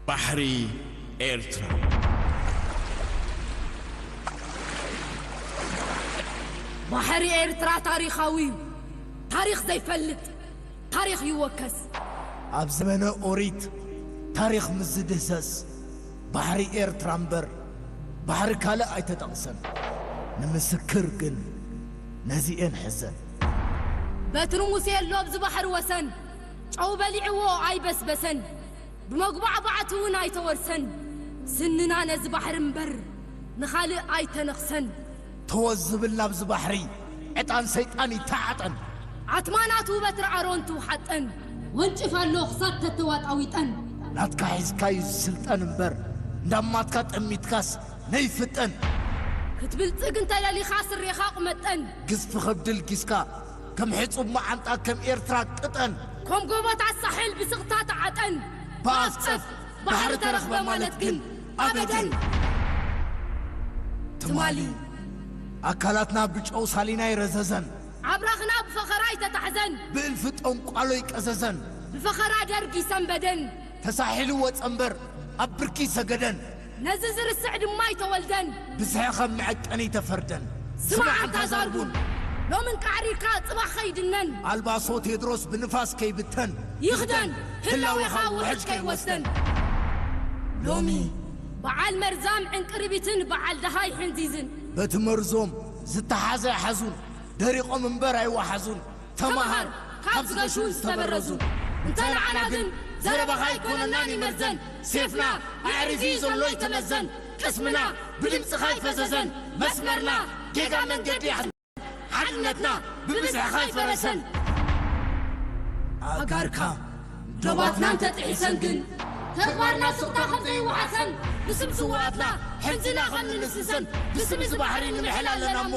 ባሕሪ ኤርትራ ባሕሪ ኤርትራ ታሪኻዊ እዩ ታሪኽ ዘይፈልጥ ታሪኽ ይወከስ ኣብ ዘመነ ኦሪት ታሪኽ ምስ ዝድህሰስ ባሕሪ ኤርትራ እምበር ባሕሪ ካልእ ኣይተጠቕሰን። ንምስክር ግን ነዚኤን ሕዘን። በትሪ ሙሴ ኣሎ ኣብዚ ባሕሪ ወሰን። ጨው በሊዕዎ ኣይበስበሰን። ብመጉባዕባዕቲ'ውን ኣይተወርሰን። ስንና ነዚ ባሕሪ እምበር ንኻልእ ኣይተነኽሰን። ተወ ዝብል ናብዚ ባሕሪ ዕጣን ሰይጣን ይተዓጠን። ዓትማ ናቱ በትሪ ኣሮን ትውሓጠን። ወንጭፍ ኣሎ ክሳብ ተተዋጣዊጠን። ናትካ ሒዝካ ዩ ዝስልጠን እምበር እንዳማትካ ጠሚትካስ ነይፍጠን። ክትብልጽግ እንተ ደሊኻ ስሬኻ ቁመጠን። ግዝፊ ከብዲ ልጊስካ ከም ሕጹብ መዓንጣ ከም ኤርትራ ቅጠን። ኮም ጎቦታት ሳሕል ብስቕታ ተዓጠን። ብኣፍ ጸፍ ባሕሪ ተረኽበ ማለት ግን ኣበደን! ትማሊ ኣካላትና ብጨው ሳሊና ይረዘዘን። ኣብራኽና ብፈኸራ ይተታሕዘን። ብእልፊ ጠንቋሎ ይቀዘዘን። ብፈኸራ ደርግ ይሰንበደን። ተሳሒሉ ወጸ እምበር ኣብ ብርኪ ይሰገደን። ነዚ ዝርስዕ ድማ ኣይተወልደን። ብዝሐ ኸም መዐቀኒ ተፈርደን ዝማዕ ኣንታ ዛርቡን ሎሚ እንቃዕ ሪካ ጽባሕ ኸይድነን ኣልባሶ ቴድሮስ ብንፋስ ከይብተን ይኽደን ህላዌኻ ውሕጅ ከይወስደን ሎሚ በዓል መርዛም ዕንቅርቢትን በዓል ደሃይ ሕንዚዝን በቲ መርዞም ዝተሓዘ ኣይሓዙን ደሪቖም እምበር ኣይወሓዙን ተማሃር ካብ ዝገሹን ዝተበረዙን እንተ ንዓና ግን ዘረባኻ ኣይኮነናን ይመርዘን ሴፍና ኣዕሪፊ ዘሎ ይተመዘን ቅስምና ብድምጽኻ ኣይፈዘዘን መስመርና ጌጋ መንገዲ ኣሕዚንካ ሓድነትና ብብዝሕኻ ኣይፈረሰን ኣእጋርካ ዶባትና እንተጥሒሰን ግን ተግባርና ሱቕታ ከም ዘይወሓሰን ብስም ስውኣትና ሕንዝና ከም ንንስንሰን ብስም እዚ ባሕሪ ንምሕል ኣለና እሞ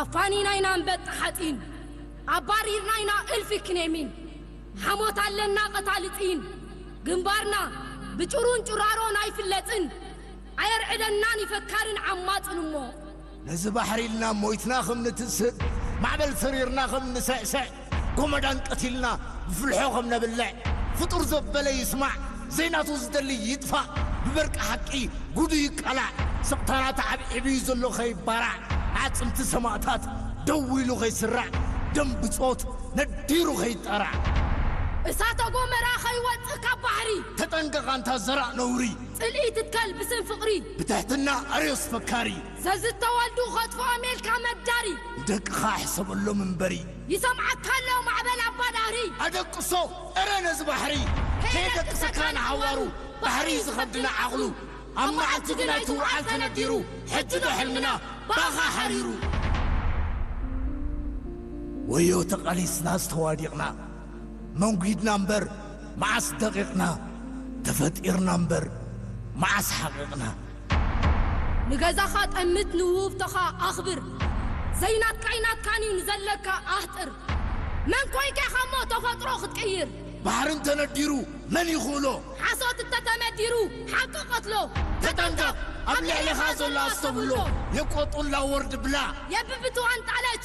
ኣፋኒና ኢና ኣንበጣ ሓጺን ኣባሪርና ኢና እልፊ ክኔሚን ሓሞት ኣለና ቀታሊ ጢን ግንባርና ብጭሩን ጭራሮን ኣይፍለጥን ኣየርዕደናን ዩ ፈካርን ዓማጽን እሞ ነዚ ባሕሪ ኢልና ሞይትና ከም ንትስእ ማዕበል ሰሪርና ከም ንስዕስዕ ጎመዳን ቀቲልና ብፍልሖ ከም ነብልዕ ፍጡር ዘበለ ይስማዕ ዘይናቱ ዝደሊ ይጥፋእ ብበርቂ ሓቂ ጉዱ ይቃላዕ ስቕታና ተዓብዒቡዩ ዘሎ ከይባራዕ ኣዕጽምቲ ሰማእታት ደው ኢሉ ከይስራዕ ደም ብጾት ነዲሩ ከይጣራዕ። እሳተ ጎመራ ከይወጽእ ካብ ባሕሪ። ተጠንቀቕ ኣንታ ዘራእ ነውሪ። ጽልኢ ትትከል ብስም ፍቕሪ። ብትሕትና ኣርዮስ ፈካሪ። ዘዝተወልዱ ኸጥፍኦም ኢልካ መዳሪ። ንደቅኻ ሕሰበሎም እምበሪ። ይሰምዓካ ኣሎ ማዕበል ኣባ ዳህሪ። ኣደቅሶ እረ ነዚ ባሕሪ። ከየደቅሰካ ንዓዋሩ። ባሕሪ ዝኸብድና ዓቕሉ። ኣብ መዓልቲ ግን ኣይትውዓል ተነዲሩ። ሕጂዶ ሕልምና ባኻ ሓሪሩ። ወዮ ተቓሊስናስ ተዋዲቕና። መንጒድና እምበር መዓስ ደቒቕና። ተፈጢርና እምበር መዓስ ሓቒቕና። ንገዛኻ ጠምት ንውህብቶኻ ኣኽብር ዘይናትካይ ናትካን እዩ ንዘለካ ኣህጥር መን ኮይንካ ኢኻ እሞ ተፈጥሮ ክትቅይር። ባሕሪ እንተነዲሩ መን ይኽእሎ። ሓሶት እንተተመዲሩ ሓቂ ቀትሎ። ተጠንቀቕ ኣብ ልዕሌኻ ዘሎ ኣስተብህሎ። የቆጡላ ወርድ ብላ። የብብትዋን ጣለች